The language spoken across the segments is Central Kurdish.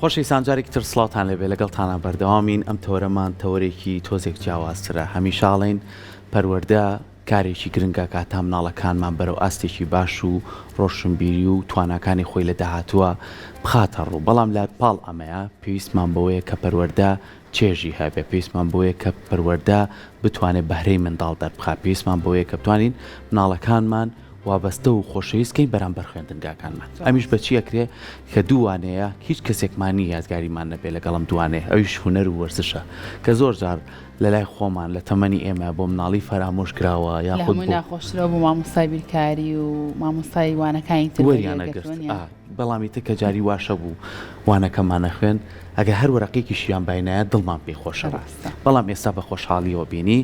خۆشەویستان جارێکی تر سڵاوتان لێبێ لەگەڵتانا بەردەوامین ئەم تەوەرەمان تەوەرێکی تۆزێک جیاوازترە هەمیشاڵێین پەروەردە کارێکی گرنگە کە هەتا مناڵەکانمان بەرەو ئاستێکی باش و ڕۆشنبیری و تواناکانی خۆی لە داهاتووە بخاتە ڕوو بەڵام لە پاڵ ئەمەیە پێویستمان بەوەیە کە پەروەردە چێژی هەبێ پێویستمان بۆیە کە پەروەەردە بتوانێت بەهرەی منداڵ دەربخە پێویستمان بۆیە کە بتوانین مناڵەکانمان وابەستە و خۆشەویست کەین بەرامبەر خوێندنگاکانمان ئەمیش بەچی ئەکرێ کە دووانەیە هیچ کەسێکمان نیە یادگاریمان نەبێ لەگەڵ ئەم دووانەیە ئەویش هونەر و وەرزشە کە زۆر جار لەلای خۆمان لە تەمەنی ئێمە بۆ مناڵی فەرامۆش کراوە یاخود بۆ لە هەمووی ناخۆشترە بۆ مامۆستای بیرکاری و مامۆستای وانەکانی تر وەریان نەگرت ئا بەڵام ئیتر کە جاری واشە بوو وانەکەمان نەخوێند ئەگەر هەر وەرەقێکیشیان باینایە دڵمان پێی خۆشە بەڵام ئێستا بە خۆشحاڵیەوە بینی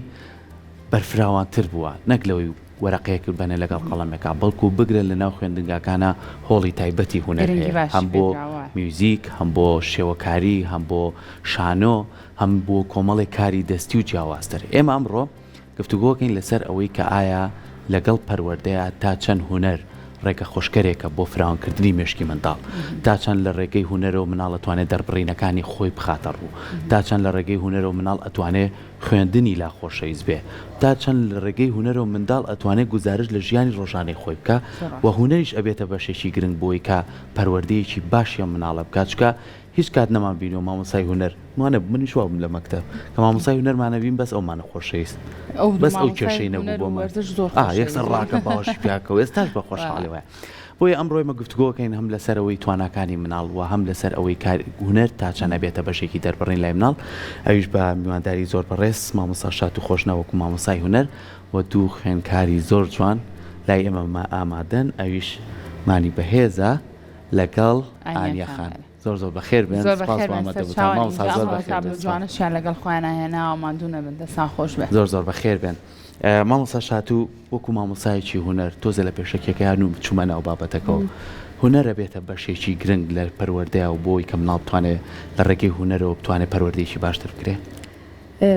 بەرفراوانتر بووە نەک لەوەی وەرەقەیەک ببەنە لەگەڵ قەڵەمێکا، بەڵکو بگرە لەناو خوێندنگاکانا هۆڵی تایبەتی هونەر گرنگی هەیە، باشی هەم بۆ پێدراوە. میوزیک، هەم بۆ شێوەکاری، هەم بۆ شانۆ، هەم بۆ کۆمەڵێک کاری دەستی و جیاوازتر. ئێمە ئەمڕۆ گفتوگۆکەین لەسەر ئەوەی کە ئایا لەگەڵ پەروەردەیا تا چەند هونەر ڕێگە خۆشکەرێکە بۆ فراوانکردنی مێشکی منداڵ؟ تا چەند لە ڕێگەی هونەرەوە مناڵ ئەتوانێ دەربڕینەکانی خۆی بخاتە ڕوو؟ تا چەند لە ڕێگەی هونەرەوە مناڵ ئەتوانێ خوێندنی لا خۆشەویست بێ تا چەند لە ڕێگەی هونەرەوە منداڵ ئەتوانێ گوزارش لە ژیانی ڕۆژانەی خۆی بکا و هونەریش ئەبێتە بەشێکی گرنگ بۆی کا پەروەردەیەکی باشی ئەم مناڵە بکا چکا هیچ کات نەمان بینیوە مامۆستای هونەر مانەبوو منیش وابووم لە مەکتەب کە مامۆستای هونەر مانەبین بەس ئەو مانە خۆشەویست بەس ئەو کێشەی نەبوو بۆ من ئا یەکسەر ڕاکە باوەشی پیا کەوو ئێستاش بە خۆشحاڵی وایە بۆیە ئەمڕۆ ئێمە گفتوگۆ ئەکەین هەم لەسەر ئەوەی تواناکانی مناڵ و هەم لەسەر ئەوەی کار هونەر تا چەند ئەبێتە بەشێکی دەربڕین لای مناڵ ئەویش بە میوانداری زۆر بەڕێز مامۆستا شاد و خۆشناو وەکو مامۆستای هونەر و دوو خوێنکاری زۆر جوان لای ئێمە ئامادەن ئەویش مانی بەهێزە لەگەڵ ئانیە خان. زۆر زۆر بەخێر بێن زۆر سپاس بەخێر بێن مامە دەبوتان سەرچاوانی مامۆستا زۆر ئینجا بەخێر بێن تابلۆ سپاس. جوانەشیان لەگەڵ خۆیان هێناوە ماندوو نەبن دەستان خۆش بێ زۆر زۆر بەخێر بێن ئە، مامۆستا شاتوو وەکو مامۆستایەکی هونەر تۆزێ لە پێشەکیەکەی هەنوو چوومە ناو بابەتەکەوە هونەر ئەبێتە بەشێکی گرنگ لە پەروەردەیا و بۆی کە مناڵ بتوانێ لە ڕێگەی هونەرەوە بتوانێ پەروەردەیەکی باشتر بکرێ؟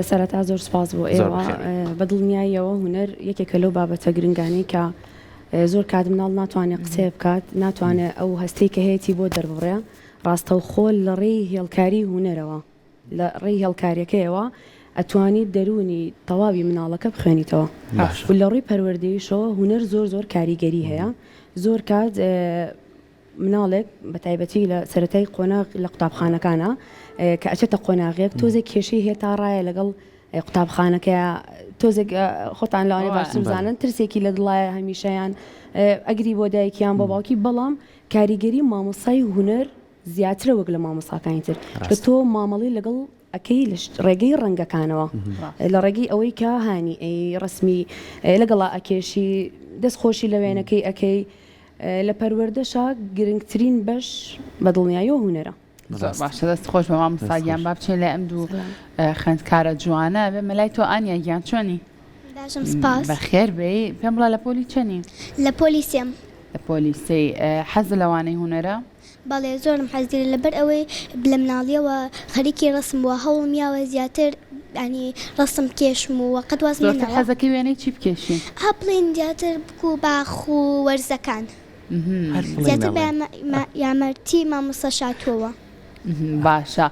سەرەتا زۆر سوپاس بۆ زۆر ئێوە بەخێر بێی. بە دڵنیاییەوە هونەر یەکێکە لەو بابەتە گرنگانەی کە زۆر کات مناڵ ناتوانێ قسەێ بکات، ناتوانێ ئەو هەستەی کە هەیەتی بۆ دەرببڕێ، ڕاستەوخۆ لە ڕێی هێڵکاری هونەرەوە، لە ڕێی هێڵکاریەکەیەوە ئەتوانیت دەروونی تەواوی مناڵەکە بخوێنیتەوە و لە ڕووی پەروەردەیشەوە هونەر زۆر زۆر کاریگەری هەیە زۆر کات. مناڵێک بە تایبەتی لە سەرەتای قۆناغ لە قوتابخانەکانە کە ئەچێتە قۆناغێک تۆزێک کێشەی هەیە تا ڕایە لەگەڵ قوتابخانەکە تۆزێک خۆتان لەوانێ ئەوە. باشتر بزانن بەڵێ. ترسێکی لە دڵایە هەمیشەیان ئێ ئەگری بۆ دایکیان بۆ باوکی بەڵام کاریگەری مامۆستای هونەر زیاترە وەک لە مامۆستاکانی تر کە ڕاستە. تۆ مامەڵەی لەگەڵ ئەکەی لە ڕێگەی ڕەنگەکانەوە لە ڕێگەی ئەوەی کە هانی ئەی ڕسمی لەگەڵا ئەکێشی دەست خۆشی لە وێنەکەی ئەەکەی لە پەروەردەشا گرنگترین بەش بە دڵنیاییەوە هوەرە باشە دەست خۆش بە مام ساگیان با بچین لە ئەم دوو خوێندکارە جوانە بێ مەلای تۆ ئانیا گیان چۆنی بەخێر بێ پێم بڵە لە پۆلی چەنی لە پۆلیسیم لە پۆلیسی حەز لەوانەی هوەرە بەڵێ زۆرم حەز لێیە لەبەر ئەوەی لە مناڵیەوە خەریکی ڕەسم بووە هەوڵم یاوە زیاتر یانی ڕەسم بکێشم و قەت وازم لێ ناوە. زۆرتر حەزەکەی وێنەی چی بکێشی؟ ئا بڵێین زیاتر بکوو باخ و وەرزەکان. هەر فڵیم ئەڵێ. زیاتر بە یامەرتی مامۆستا شاتووەوە. باشە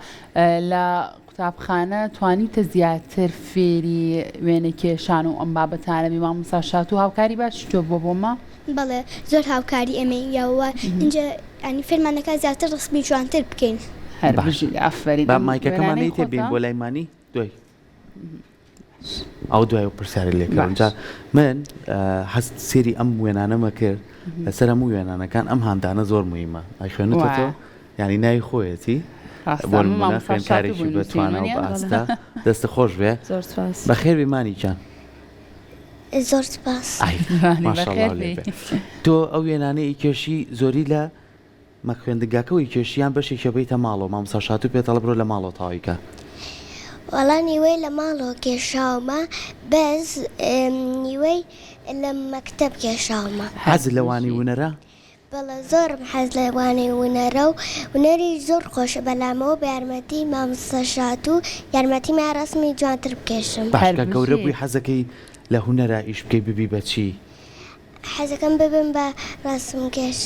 لە قوتابخانە توانیوتە زیاتر فێری وێنەکێشان و ئەم بابەتانە بی مامۆستا شاتوو هاوکاری باشی تۆ بووە بۆ مە. بەڵێ زۆر هاوکاری ئێمەی یاوە ئینجا یانی فێرمان دەکات زیاتر ڕسمی جوانتر بکەین. هەر بژیت ئافەرین. با مایکەکەمان نەیتێ بێین بۆ لای مانی دوای. ئەو دوای و پرسیاری لێ کردم جا من حەز سێری ئەم وێنانەمە کرد لەسەر هەموو وێنانەکان ئەم هاندانە زۆر مهمە ئەی خوێنێتەوە یعنی ناوی خۆیەتی بۆ نمونە خوێنکارێکی بەتوانە و بەئاستە دەستە خۆش بێ زۆر سپاس بەخێر بێ مانی گیان زۆر سپاس ئای، بەخێر ماشاءاللە بێی. لێ بێ. تۆ ئەو وێنانەی کێشی زۆری لە مە خوێندنگاکە وەی کێشی یان بەشێکیە بێیتە ماڵەوە مامۆستا شاتوو پێت ئەڵێ برۆ لە ماڵەوە تەواوی کە. وەڵا نیوەی لە ماڵەوە کێشاومە بەس نیوەی لە مەکتەب کێشاومە. حەزت لە وانەی ونەرە؟ بەڵێ زۆرم حەز لە وانەی ونەرە و ونەریش زۆر خۆشە بەلامەوە بە یارمەتی مامۆستا شاتوو یارمەتیما ڕەسمی جوانتر بکێشم. باش کە گەورە بووی حەزەکەی لە هونەرا ئیش بکەی ببی بە چی؟ حەزەکەم ببم بە ڕاسمکێش.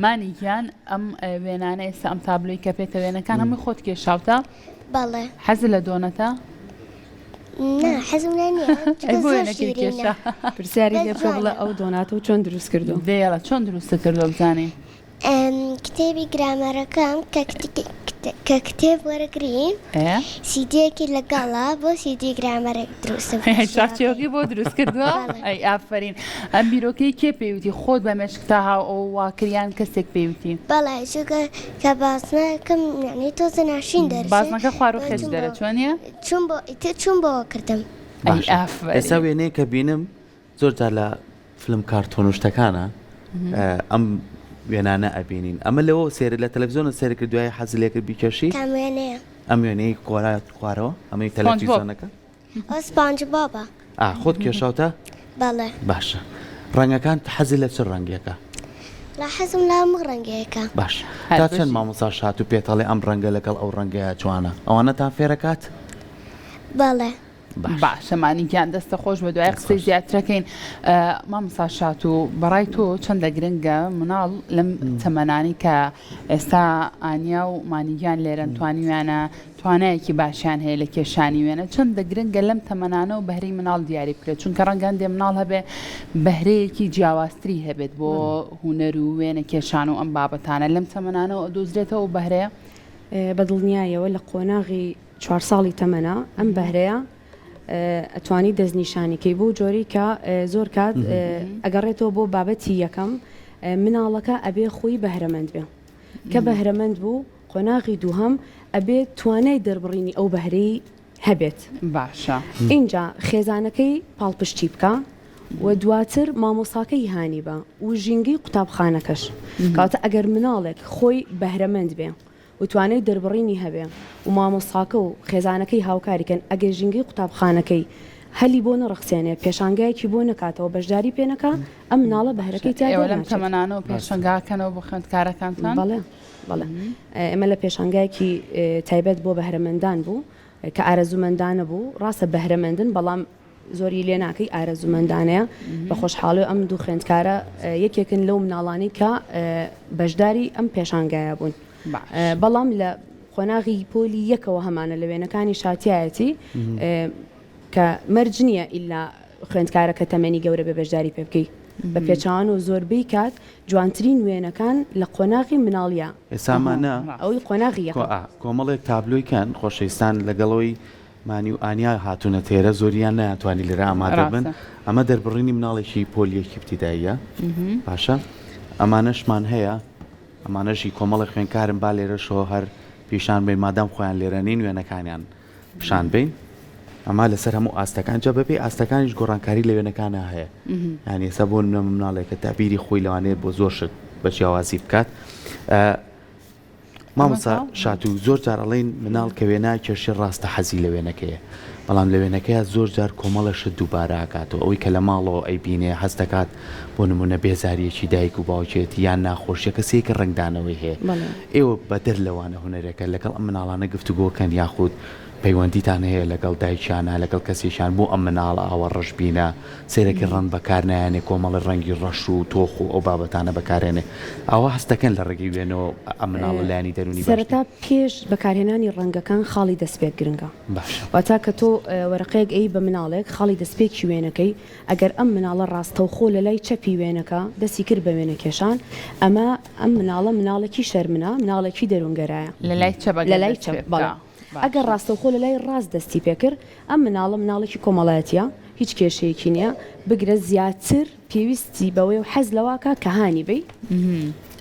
مانی گیان ئەم وێنانە ئێستا ئەم تابلۆی کە پێتە وێنەکان هەمووی خۆت کێشاوتە بەڵێ حەز لە دۆنەتە پرسیاری لێ بکە بڵێ ئەو دۆنات و چۆن دروست کردو دێڵە چۆن دروستە کردو بزانین کتێبی گرامەرەکەم کە کتێب وەرەگری سیدیەکی لەگەڵا بۆ سیدی گرامەرێک دروستم چاچێوەکەی بۆ دروست کردووە ئەی ئافرین ئەم بیرۆکەی کێ پێوتی خۆت بە مێشکتا هاو ئەو واکریان کەسێک پێوتی بەڵێ چونکە کە باسنەکەم یعنی تۆزە ناشین دەر باسنەکە خوار و خێز دەرە چۆنە چون بۆ ئیتر چون بۆ کردم ئەی ئافرین ئێستا وێنەیە کە بینم زۆر جار لە فلم کارتۆن و شتەکانە ئەم وێنانە ئەبینین ئەمە لەوە سێر لە تەلەڤزیۆنە سێرکرد دوای حەز لێکرد بیکەشی ئەم وێنەیە ئەم وێنەی کۆرات خوارەوە ئەمەی سپۆنج بۆب. تەلەڤزیۆنەکە ئەو سپانج بابە ئا خۆت کێشاوتە بەڵێ باشە ڕەنگەکان حەز لە چ ڕەنگێکە لە حەزم لە هەموو ڕەنگەیەکە باش هەر تا چەند بژی. مامۆستا شات و پێتەڵێ ئەم ڕەنگە لەگەڵ ئەو ڕەنگە جوانە ئەوانەتان فێرەکات بەڵێ باشە. باشە مانی گیان دەستە خۆش بە دوای قسەی زیاترەکەین مامسا شات و بەڕای تۆ چەندە گرنگە مناڵ لەم تەمەنانی کە ئێستا ئانیا و مانیگیان لێرەن توانی ویانە توانایەکی باشیان هەیە لە کێشانی وێنە چەندە گرنگە لەم تەمەنانە و بەهری مناڵ دیاری بکرێت چونکە ڕەنگەن دێ مناڵ هەبێ بەهرەیەکی جیاوازتری هەبێت بۆ هوەر و وێنە کێشان و ئەم بابەتانە لەم تەمەنانەوە دۆزرێتەوە بەهرەیە بەدڵنیایەوە لە قۆناغی چوار ساڵی تەمەنە ئەم بەهرەیە ئەتوانی دەستنیشانی کەی بۆ جۆری کە زۆر کات ئەگەڕێتەوە بۆ بابەتی یەکەم مناڵەکە ئەبێ خۆی بەهرەمەند بێ کە بەهرەمەند بوو قۆناغی دووهم ئەبێت توانای دەربڕینی ئەو بەهرەی هەبێت باشە اینجا خێزانەکەی پاڵپشتی بکە و دواتر مامۆساکەی هانی بە و ژینگەی قوتابخانەکەش کاتە ئەگەر مناڵێک خۆی بەهرەمەند بێ و توانای دەربڕینی هەبێ و مامۆستاکە و خێزانەکەی هاوکاری کەن ئەگەر ژینگەی قوتابخانەکەی هەلی بۆ نەڕەخسێنێ پێشانگایەکی بۆ نەکاتەوە بەشداری پێ نەکا ئەم مناڵە بەهرەکەی تیا ئێوە لەم دەرناچێت تەمەنانەوە پێشەنگا کەنەوە بۆ خوێندکارەکانتان بەڵێ بەڵێ ئێمە لە پێشانگایەکی اه، تایبەت بۆ بەهرەمەندان بوو اه، کە ئارەزوومەندانە بوو ڕاستە بەهرەمەندن بەڵام زۆری لێ ناکەی ئارەزومەندانەیە بە خۆشحاڵی و ئەم دوو خوێندکارە یەکێکن لەو مناڵانی کە بەشداری ئەم پێشانگایە بوون بەڵام لە قۆناغی پۆلی یەکەوە هەمانە لە وێنەکانی شاتایەتی کە مەرج نییە ئللا خوێندکارە کە تەمەنی گەورە بە بەشداری پێ بکەیت بە پێچوان و زۆربەی کات جوانترین وێنەکان لە قۆناغی مناڵە ئێسامانە ئەوی قۆناغی کۆمەڵێک تابلۆیکان خۆشەویستان لەگەڵەوەی مانی و ئانیا هاتوونە تێرە زۆریان نەیانتوانی لێرە ئامادە بن ئەمە دەربڕینی مناڵێکی پۆلی یەکی ابتدائیە باشە ئەمانەشمان هەیە ئەمانەش هی کۆمەڵی خوێنکارن با لێرەشەوە هەر پیشان بین مادام خۆیان لێرە نین وێنەکانیان پیشان بین ئەما لەسەر هەموو ئاستەکان جا بەپێی ئاستەکانیش گۆڕانکاری لە وێنەکانە هەیە یانی ئێستا بۆ نە مناڵێکە تابیری خۆی لەوانەیە بۆ زۆر شت بە جیاوازی بکات مامۆستا شاتوو زۆر جار ئەڵین مناڵ کە وێنا کێشێ ڕاستە حەزی لە وێنەکەیە بەڵام لە وێنەکەیە زۆر جار کۆمەڵە شت دووباراکاتەوە ئەوەی کە لە ماڵەوە ئەی بینێ هەست دەکات بۆ نمونە بێزاریەکی دایک و باوکێت یان ناخۆشیە کەسێکی ڕنگدانەوەی هەیە ئێوە بەدەر لەوانە هوەرەکە لەگەڵ ئەم مناڵانە گفتوگۆکەن یاخود پەیوەندیتان هەیە لەگەڵ دایکیانا لەگەڵ کەسێکیان بۆ ئەم مناڵە ئاوا ڕەش بینە سێرەکی ڕەنگ بەکار نایەنێ کۆمەڵی ڕەنگی ڕەش و تۆخ و ئەو بابەتانە بەکارێنێ ئاوا هەست دەکەن لە ڕێگەی وێنەوە ئەم مناڵە لایەنی دەرونی باش سەرەتا پێش بەکارهێنانی ڕەنگەکان خاڵی دەستپێک گرنگە باشە. واتا کە تۆ وەرەقەیەک ئەیی بە مناڵێک خاڵی دەستپێکی وێنەکەی ئەگەر ئەم مناڵە ڕاستەوخۆ لە لای چەپی وێنەکە دەستی کرد بە وێنە کێشان ئەمە ئەم مناڵە مناڵێکی شەرمنە مناڵێکی دەرونگەرایە. لە لای چەپ ئەگەر دەست پێ بکا. ئەگەر ڕاستەوخۆ لەلای ڕاست دەستی پێکرد، ئەم مناڵە مناڵێکی کۆمەڵایەتیە، هیچ کێشەیەکی نیە، بگرە زیاتر پێویستی بەوەیەو حەز لەوەکا کە هانی بەی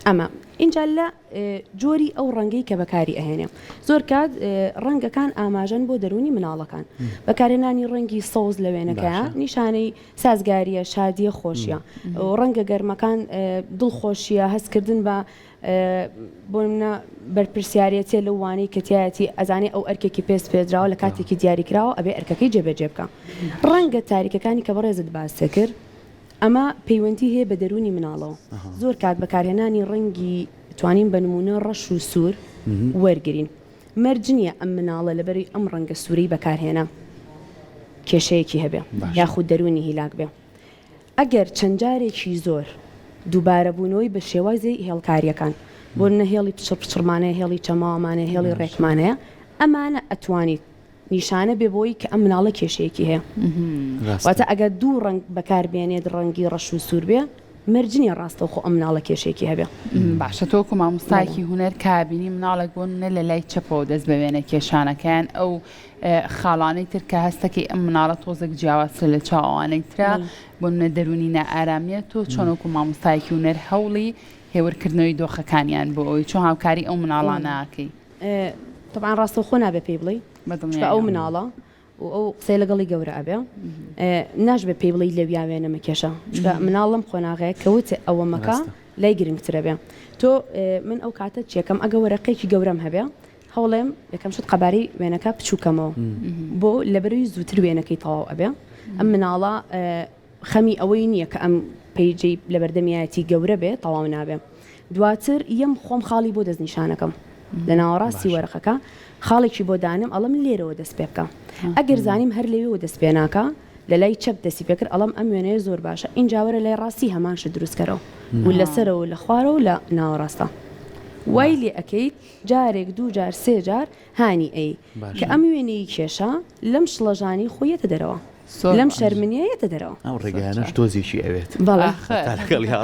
ئەمە. ئینجا لە جۆری ئەو ڕەنگەی کە بەکاری ئەهێنێ، زۆر کات ڕەنگەکان ئاماژەن بۆ دەرونی مناڵەکان، بەکارهێنانی ڕەنگی سەوز لە وێنەکەیا نیشانەی سازگاریە، شادیە، خۆشیە. ڕەنگە گەرمەکان دڵخۆشیە، هەستکردن بە بۆ نمونە بەرپرسیارێتیە لەو وانەی کە تیایەتی ئەزانێ ئەو ئەرکێکی پێ سپێردراوە لە کاتێکی دیاریکراوە ئەبێ ئەرکەکەی جێبەجێ بکا ڕەنگە تاریکەکانی کە بەڕێزت باست کرد ئەمە پەیوەندی هەیە بە دەرونی مناڵەوە زۆر کات بەکارهێنانی ڕەنگی توانین بە نمونە ڕەش و سوور وەرگین مەرج نییە ئەم مناڵە لەبەری ئەم ڕەنگە سوورەی بەکارهێنا کێشەیەکی هەبێ یاخود دەرونی هیلاک بێ ئەگەر چەند جارێکی زۆر دووبارەبوونەوەی بە شێوازی هێڵکارییەکان بۆ نمونە هێڵی پچڕ پچڕمانەیە، هێڵی چەماوەمانەیە، هێڵی ڕێکمانەیە، ئەمانە ئەتوانیت نیشانە بێ بۆی کە ئەم مناڵە کێشەیەکی هەیە. واتە ئەگەر دوو ڕەنگ بەکار بێنێت ڕەنگی ڕەش و سوور بێ مەرج نییە ڕاستەوخۆ ئەم مناڵە کێشەیەکی هەبێ. باشە تۆ وەکو مامۆستایەکی هونەر کە بینی مناڵێک بۆ نمونە لە لای چەپەوە دەست بە وێنە کێشانەکەیان ئەو خاڵانەی تر کە هەستەکەی ئەم مناڵە تۆزێک جیاوازترە لە چاو ئەوانەی ترا بۆ منە دەرونی نائارامیە تۆ چۆنۆکو مامۆستایەکی ونەر هەوڵی هێورکردنەوەی دۆخەکانیان بۆ ئەوی چۆن هاوکاری ئەو مناڵانەکەی طبعا ڕاستە خۆ نابێ پێی بڵی ئەو مناڵە و ئەو قسەی لەگەڵی گەورە ئەبێ ناش بە پێی بڵی لەویاوێنە مەکێشە مناڵم قۆناغەیە کەوت ئەوە مەکە لای گرنگترە بێ تۆ من ئەو کاتە چێکم ئەگە وەرەقێکی گەورەم هەبێ هەوڵێم یەکەم شت قەبارەی وێنەکە پچوو کەمەوە بۆ لەبەروی زووتر وێنەکەی تەواو ئەبێ ئەم مناڵە خەمی ئەوەی نییە کە ئەم پیجەی لەبەردەمیایەتی گەورە بێ تەواو نابێ دواتر یەم خۆم خاڵی بۆ دەست نیشانەکەم لە ناوەڕاستی وەرەقەکە خاڵێکی بۆ دانم ئەڵم لێرەوە دەست پێ بکە ئەگەر زانیم هەر لەوێەوە دەست پێ ناکە لە لای چەپ دەسی پێکرد ئەڵم ئەم وێنەیە زۆر باشە ئینجاوەرە لای ڕاستی هەمانش دروستکەرەوە و لەسەرەوە لە خوارەوە لە ناوەڕاستە وای لێ ئەەکەیت جارێک دوو جار سێ جار هانی ئەی کە ئەم وێنەی کێشە لەم شڵەژانی خۆی یەتە دەرەوە لەم شەرمنیە یەتە دەرەوە ئەو ڕێگەیانەش تۆزیشی ئەوێت بەڵێ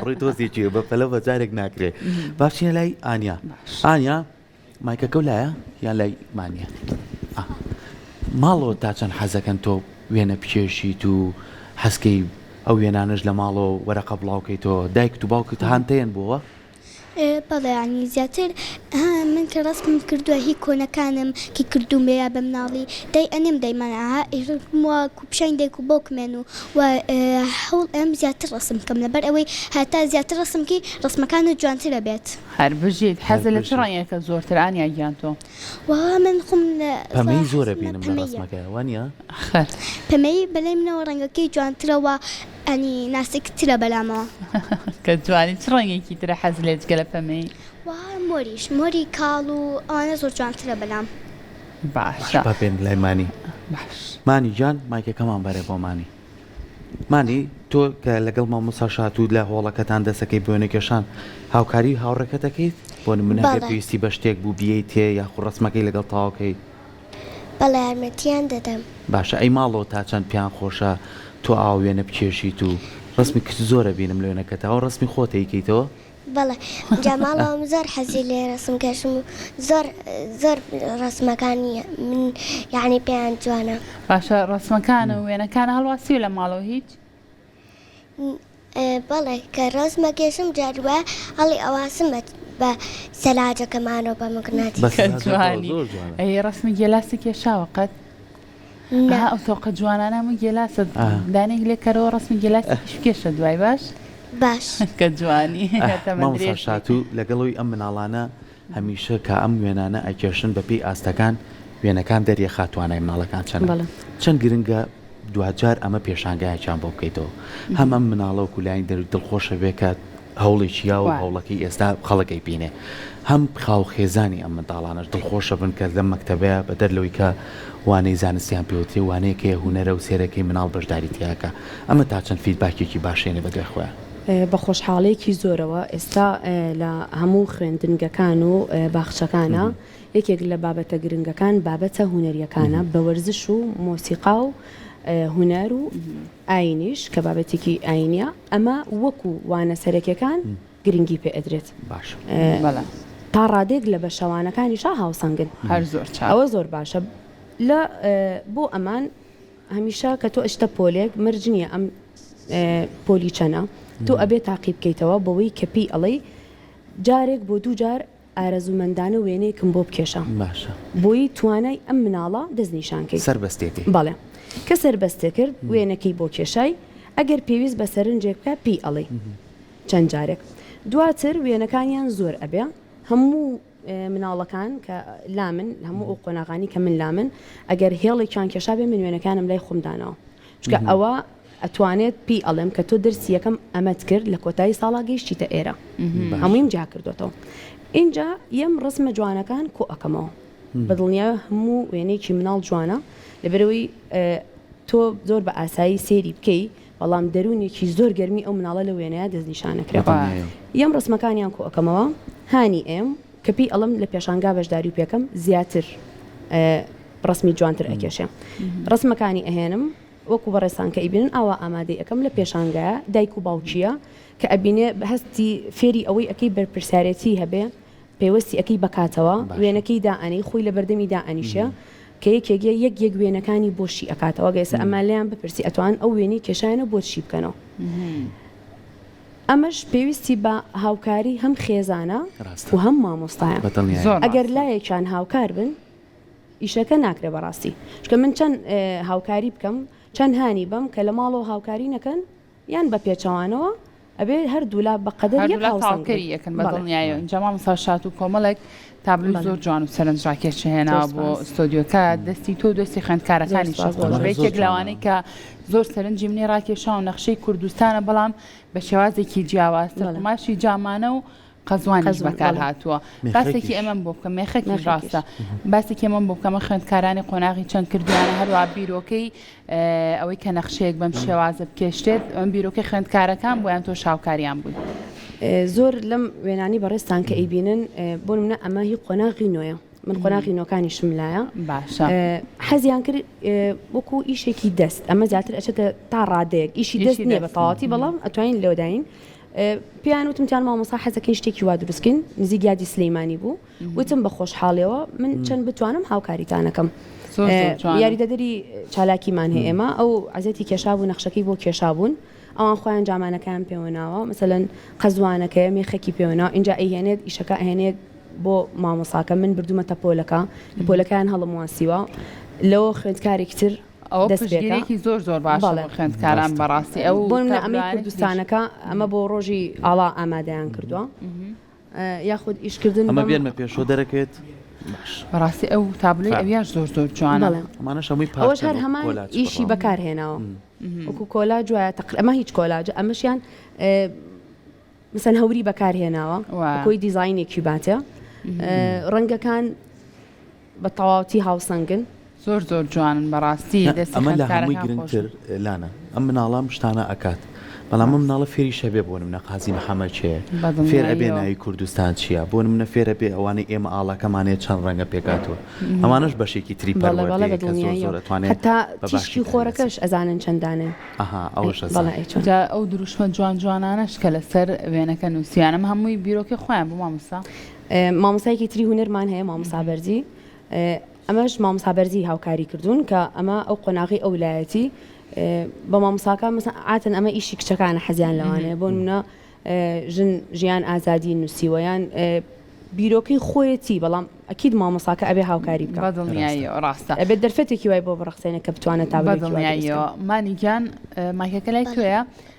ڕووی تۆزیی بە پەلە بە جارێک ناکرێت باشە لای ئایا ئایا مایکەکە و لایە یا لای مانە ماڵەوە تا چەند حەزەکەن تۆ وێنە بکێشیت و حەزکەی ئەو وێنانەش لە ماڵەوە وەرەقە بڵاوکەیتەوە دایکت و باوکت هاانتەیەن بووە بەڵێ یانی زیاتر ها من کە ڕەسمم کردوە هی کۆنەکانم کە کردومەیە بە مناڵی دای ئەنێم دای من ها وا کو پیشانی دایک و باوکمێن و وا هەوڵ ئەیەم زیاتر ڕەسم بکەم لەبەر ئەوەی هەتا زیاتر ڕەسم بکی ڕەسمەکانت جوانتر ئەبێت. هەر بژیت حەزت لە چ ڕەنگێکە زۆرتر ئانیا گیان تۆ؟ وەڵا من خۆم لە پەمەیی زۆر ئەبینم لە ڕەسمەکەیا وانیە؟ خەر. پەمەیی بەلای منەوە ڕەنگەکەی جوانترە وا. ئەنی ناسک ترە بەلامەوە. کە جوانی چ ڕەنگێکی ترە حەز لێ جگە لە پەمەیی. وە مۆریش مۆری کاڵ و ئەوانە زۆر جوانترە بەلام. باشە. با بێن لای مانی. باش. مانی گیان مایکەکەمان بەرە بۆ مانی. مانی تۆ کە لەگەڵ مامۆستا شات و لە هۆڵەکەتان دەسەکەی بۆ وێنەکێشان هاوکاری هاوڕێکەت دەکەیت؟ بۆ نمونە ئەگەر پێویستی بە شتێک بوو بیێیت تێ یاخو ڕەسمەکەی لەگەڵ تاوکەی؟ بەڵێ یارمەتیان دەدەم. باشە ئەی ماڵۆ تا چەند پێان خۆشە تۆ ئاوا وێنە بکێشیت و ڕەسمی کچ زۆر ئەبینم لە وێنەکەتا ئەوە ڕەسمی خۆت ئەیکەیتەوە؟ بەڵێ جا ماڵۆ من زۆر حەزی لێ ڕەسم کێشم و زۆر زۆر ڕەسمەکانی من یەعنی پێیان جوانە. باشە ڕەسمەکان و وێنەکانە هەڵواسیوە لە ماڵۆ هیچ؟ بەڵێ کە ڕەز مەگێژم جاری وایە هەڵی ئەواسم بە بە سەلاجەکەمانەوە بە مقناتی بە سەلاجەکەوە کەجوانی زۆر جوانە ئەی ڕەسمی گێلاسی کێشاوە قەت نا ها ئەو تۆقە جوانانە هەمووی گێلاسە ئا. دانەیەک لێ کەرەوە ڕەسمی گێلاسێکیش بکێشە دوای باش باش کە جوانی ئاه تەمەن مامۆستا درێژ بی. شاتوو لەگەڵ ئەوی ئەم مناڵانە هەمیشە کە ئەم وێنانە ئەکێشن بە پێی ئاستەکان وێنەکان دەریەخات توانای مناڵەکان چەنە چەند گرنگە دواجار ئەمە پێشانگایەکیان بۆ بکەیتەوە هەم ئەم مناڵەوە کولای دەروی دڵخۆشە بێ کە هەوڵێکی یاوە هەوڵەکەی ئێستا خەڵەکەی بینێ هەم خاو خێزانی ئەم منداڵانەش دڵخۆشە بن کە لەم مەکتتەبەیە بە دەر لەوەی کە وانەی زانستیان پێوتری وانەیەکەیە هوەرە و سێرەکەی مناڵ بەشداری تیاکە ئەمە تا چەند فیدباکێکی باشێنێ بە دوای خۆیان. بە خۆشحاڵیەکی زۆرەوە ئێستا لە هەموو خوێندنگەکان و باخچەکانە یەکێک لە بابەتە گرنگەکان بابەتە هونەریەکانە بە وەرزش و مۆسیقا و هونەر و ئاینیش کە بابەتێکی ئاینە ئەمە وەکو وانە سەرەکەکان گرنگی پێ ئەدرێت باش تا ڕادێک لە بە شەوانەکانیشا هاوسەنگن هەر زۆر ئەوە زۆر باشە لە بۆ ئەمان هەمیشە کە تۆ ئەچتە پۆلێک مەرج نیە ئەم پۆلی چەنە تۆ ئەبێ تاقی بکەیتەوە بەوەی کە پێی ئەڵێی جارێک بۆ دوو جار ئارەزوومەندانە وێنەیەکم بۆ بکێشە باشە بۆیی توانای ئەم مناڵە دەست نیشانکەی سەربەستێتی بەڵێ کە سەربەستێ کرد وێنەکەی بۆ کێشای ئەگەر پێویست بە سەرنجێک بکە پێی ئەڵێی چەند جارێک دواتر وێنەکانیان زۆر ئەبێ هەموو مناڵەکان کە لامن هەموو ئەو قۆناغانی کە من لامن ئەگەر هێڵێکیان کێشابێ من وێنەکانم لای خۆم داناوە چکە ئەوە ئەتوانێت پێی ئەڵێم کە تۆ درسی یەکەم ئەمەت کرد لە کۆتایی ساڵا گەیشتیتە ئێرە هەموویم جیا کردوێتەوە اینجا یەم ڕسمە جوانەکان کۆ ئەەکەمەوە بەدڵنیا هەموو وێنێکی مناڵ جوانە لەبەرەوەی تۆ زۆر بە ئاسایی سێری بکەی بەڵام دەروونێکی زۆر گەرمی ئەو مناڵە لەو وێنەیە دەستنیشانەکرا. بەدڵنیاییم. ئێم ڕەسمەکانیان کۆئەکەمەوە، هانی ئێم کە پێی ئەڵێم لە پێشانگا بەشداری پێکەم زیاتر ڕەسمی جوانتر ئەکێشێ. ڕەسمەکانی ئەهێنم وەکو بەڕێزتان کە ئەیبینن ئاوا ئامادەی ئەکەم لە پێشانگایە دایک و باوکییە کە ئەبینێ هەستی فێری ئەوەی ئەکەی بەرپرسیارێتی هەبێ پێوستی ئەکەی بەکاتەوە وێنەکەی دائەنێی خۆی لەبەردەمی دائەنیشێ کە یەکێک یە یەک یەک وێنەکانی بۆ شی ئەکاتەوە گەر ئێستا ئەمان لێیان بپرسی ئەتوان ئەو وێنەی کێشایانە بۆت شی بکەنەوە ئەمەش پێویستی بە هاوکاری هەم خێزانە و هەم مامۆستایە ئەگەر لایەکیان هاوکار بن ئیشەکە ناکرێ بەڕاستی چکە من چەند هاوکاری بکەم چەند هانی بەم کە لە ماڵەوە هاوکاری نەکەن یان بە پێچەوانەوە ئەبێ هەردوولا بە قەدەر یەک هەردوولا هاوسەنگ بن. تەواوکەری یەکن بە بەڵێ. دڵنیاییەوە بەڵێ. ئینجا مامۆستا شاتوو کۆمەڵێک تابلۆی بەڵێ. زۆر جوان و سەرنجڕاکێش هێناوە زۆر بۆ سوپاس. ستۆدیۆکە دەستی تۆ و دەستی زۆر خوێندکارەکانیشە سوپاس خۆش بەڕێز. بێ زۆر یەکێک جوانە. لەوانەی کە زۆر سەرنجی منی ڕاکێشا و نەخشەی کوردستانە بەڵام بە شێوازێکی جیاواز تر بەڵێ. قوماشی جامانە و قەزوانیش بەکار هاتووە باسێکی ئەمەم بۆ بکەم مێخەکی ڕاستە باسێکی ئەمەم بۆ بکەمە خوێندکارانی قۆناغی چەند کردیانە هەروە بیرۆکەی ئەوەی کە نەخشەیەک بەم شێوازە بکێشتێت ئەم بیرۆکەی خوێندکارەکان بۆیان تۆ شاوکاریان بووی زۆر لەم وێنانی بەڕێستان کە ئەیبینن بۆ منە ئەمە هی قۆناغی نوێە من قۆناغی نۆکانی شملایە باشە حەزیان کرد وەکو ئیشێکی دەست ئەمە زیاتر ئەچێتە تا ڕادەیەک ئیشی دەست نیە بە تەواتی بەڵام ئەتوانین لەوداین پێیان وتم جان مامۆسا حەزەکەین شتێکی وا دروستکەین نزیک یادی سلەیمانی بوو وتم بە خۆشحاڵەوە من چەند بتوانم هاوکاریتانەکەم یاریدەدەری چالاکیمان هەیە ئێمە ئەو عزێتی کێشابوو نەخشەکەی بۆ کێشابوون ئەوان خۆیان جامانەکان پێوەناوە مثلەن قەزوانەکەی مێخەکی پێوەناوە اینجا ئەهێنێت ئیشەکە ئەهێنێت بۆ مامۆساکە من بردومەتە پۆلەکە پۆلەکەیان هەڵم واسیوە لەوە خوێندکارێکی تر ئەوە پشتگیرێکی زۆر زۆر باشە بۆ خوێندکاران بەڕاستی ئەو بۆ منە ئەمەی کوردستانەکە ئەمە بۆ ڕۆژی ئاڵا ئامادەیان کردووە یاخود ئیشکردن ئەمە بێنمە پێشەوە دەرەکەێت بەڕاستی ئەو تابلۆی ئەویاش زۆر زۆر جوانە ئەمانە شەمووی پاش هەر هەمان ئیشی بەکارهێناوە وەکو کۆلا جوایە تەقل ئەمە هیچ کۆلاجە ئەمەشیان مثل هەوری بەکارهێناوە کۆی دیزینێکی باتە ڕەنگەکان بە تەواوتی هاوسەنگن. زۆر زۆر جوانن بەڕاستی دەستی خوێندکارەکان خۆش بێت. ئەمە لە هەمووی گرنگتر لانە ئەم مناڵە ئەم شتانە ئەکات بەڵام ئەم مناڵە فێری شەبێ بۆ نمونە قازی محەمەد کێیە فێر ئەبێ ناوی کوردستان چییە بۆ نمونە فێر ئەبێ ئەوانەی ئێمە ئاڵاکەمانەیە چەند ڕەنگە پێکهاتووە ئەمانەش بەشێکی تری پەروەردەیە کە زۆر زۆر ئەتوانێت هەتا تیشکی خۆرەکەش ئەزانن چەند دانەن ئەها ئەوەش ئەزانن بەڵێ ئەیتوانن. جا ئەو دروشمە جوان جوانانەش کە لەسەر وێنەکە نووسیویانە ئەمە هەمووی بیرۆکەی خۆیان بوو مامۆستا؟ مامۆستایەکی تری هونەرمان هەیە مامۆستا بەرزی ئەمەش مامۆستا بەرزی هاوکاری کردوون کە ئەمە ئەو قۆناغی ئەو لایەتی بە مامۆساکە مەسە ئاتن ئەمە ئیشی کچەکانە حەزیان لەوانەیە بۆ منە ژن ژیان ئازادی نووسیوەیان بیرۆکەی خۆیەتی بەڵام ئەکیید مامۆساکە ئەبێ هاوکاری بکە ڕاستە ئەبێت دەرفەتێکی وای بۆ بڕخسێنە کە بتوانێت تا بەدڵنیایەوە مانیگیان مایکەکە لای توێە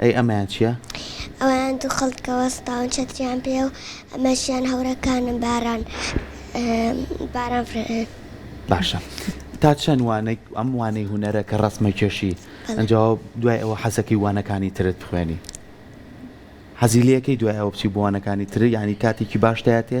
ئەی ئەمەیان چیە؟ ئەوەیان دوو خەڵکە وەستاون چەتریان پێیە و ئەمەشیان هەورەکانن باران باران فرێ. باشە تا چەند وانەک ئەم وانەی هونەرە کە ڕەسمە کێشی ئەنجا دوای ئەوە حەزەکەی وانەکانی ترت بخوێنی حەزی لەکەی دوای ئەوە بچی بۆ وانەکانی تر یانی کاتێکی باشتایەتێ؟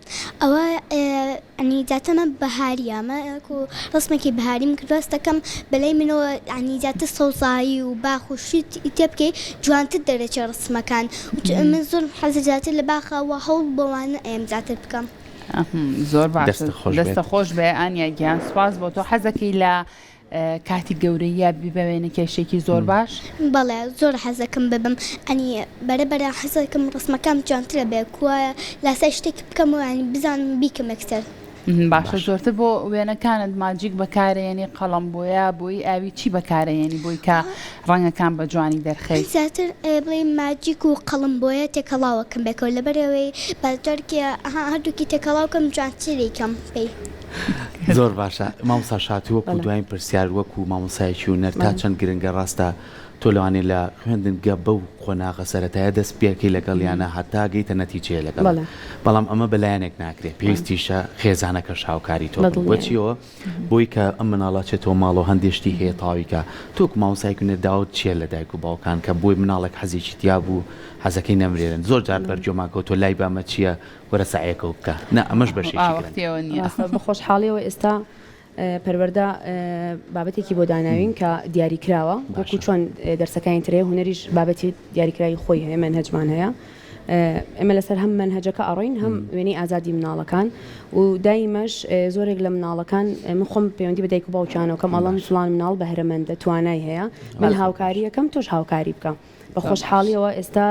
ئەوە یانی جاتە مە بەهاریە مە کو ڕسمەکی بەهاریم کردوە ستەکەم بەلای منەوە یانی جاتە سەوزایی و باخ و شت ی تێ بکەی جوانتر دەرەچێ ڕسمەکان من زۆرم حەزە جاتە لە باخە وە هەوڵ بەوانە ئەیەم جاتر بکەم. دەستت خۆش بێت. دەستە خۆش بێ ئانیا گیان سوپاس بۆ تۆ حەزەکەی لە کاتی گەورەییە بی بە وێنە کێشێکی زۆر باش. بەڵێ زۆر حەزەکەم ببم ئەنی بەرە بەرە حەزەکەم ڕسمەکەم جوانترە بێ کوایە لاسای شتێک بکەمەوە ئەنی بزانم بیکەم ئەکتەر. باشە زۆرتر بۆ وێنەکانت ماجیک بەکارەیەنی قەڵەم بۆیا بۆیی ئاوی چی بەکارەیەنی بۆی کە ڕەنگەکان بە جوانی دەرخەی. من زیاتر بڵێ ماجیک و قەڵەم بۆیە تێکەڵاوەکەم بێکەوە لەبەرەوەی بە جارکێ هەردووکی تێکەڵاوکەم جوانتریکەم پێی. زۆر باشە مامسا شات وەکو دوایین پرسیار وەکو مامۆسایکی و نەر تا چەند گرنگە ڕاستە تۆ لەوانێ لە خوێندنگە بەو قۆناغە سەتایە دەست پێەکەی لەگەڵ یانە هەتا گەیتە نەتیجەیە لەگەڵ بەڵام ئەمە بەلایەنێک ناکرێت پێویستیشە خێزانەکە شاوکاری تۆ بۆچیەوە بۆی کە ئەم مناڵاچێتەوە ماڵەوە هەندێشتی هەیە تاویکە تۆک مامسایک و نەرداوت چیە لە دایک و باوکان کە بۆی مناڵێک حەزێکی تیا بوو حەزەکەی نەمرێرن زۆر جار بەرجۆماکەوتۆ لای بامە چییە؟ وەرە سەعیەکە و بکە. نا ئەمەش بەشێکی گرنگە. ڕاستە بە خۆشحاڵیەوە ئێستا پەروەردە بابەتێکی بۆ داناوین کە دیاری کراوە وەکو چۆن دەرسەکانی تر هەیە هونەریش بابەتی دیاریکراوی خۆی هەیە مەنهەجمان هەیە ئێمە لەسەر هەم مەنهەجەکە ئەڕۆین هەم وێنەی ئازادی مناڵەکان و دایمەش زۆرێک لە مناڵەکان من خۆم پەیوەندی بە دایک و باوکیانەوە کەم ئەڵم فڵان مناڵ بەهرەمەندە توانای هەیە من هاوکاریەکەم تۆش هاوکاری بکە بە خۆشحاڵیەوە ئێستا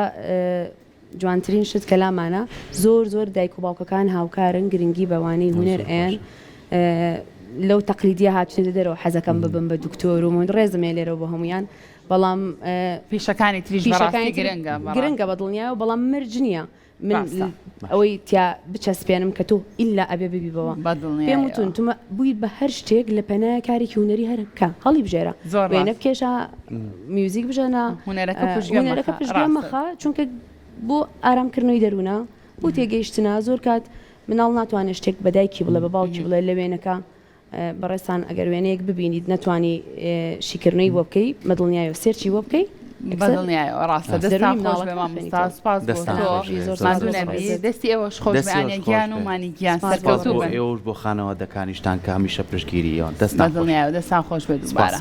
جوانترین شت کە لامانە زۆر زۆر دایک و باوکەکان هاوکارن گرنگی بە وانەی هونەر ئەیەن لەو تەقلیدیە هاتوونەتە دەرەوە حەزەکەم ببم بە دکتۆر و من ڕێزم هەیە لێرەوە بۆ هەمویان بەڵام پیشەکانی تریش بەڕاستی پیشەکانی گرنگە بەڕاستی. گرنگە بە دڵنیایەوە بەڵام مەرج نییە من باشە. ل- ئەوەی تیا بچەسپێنم کە تۆ ئیلا ئەبێ ببی بەوە بە دڵنیایەوە. پێم وتون تو مە بووی بە هەر شتێک لە پەنایە کارێکی هونەری هەر بکە هەڵیبژێرە زۆر ڕاست. وێنە بکێشە میوزیک بژەنە هوەرەکە پشگوێ مەخە چونکە بۆ ئارامکردنەوەی دەروونە بۆ تێگەیشتنا زۆر کات مناڵ ناتوانێت شتێک بەدایکی بڵێ بە باوکی بڵێ لە وێنەکە بەڕێستان ئەگەر وێنەیەک ببینیت نەتوانی شیکردنەی بۆ بکەی مەدڵنیای و سێرچی بۆ بکەی دەستی ئێوەش خۆشیان و مانی گیان ئێوەش بۆ خانەوە دەکانیشتان کە هەمیشە پشگیری ئەوان دەستان دەستان خۆش بێت دوبارە.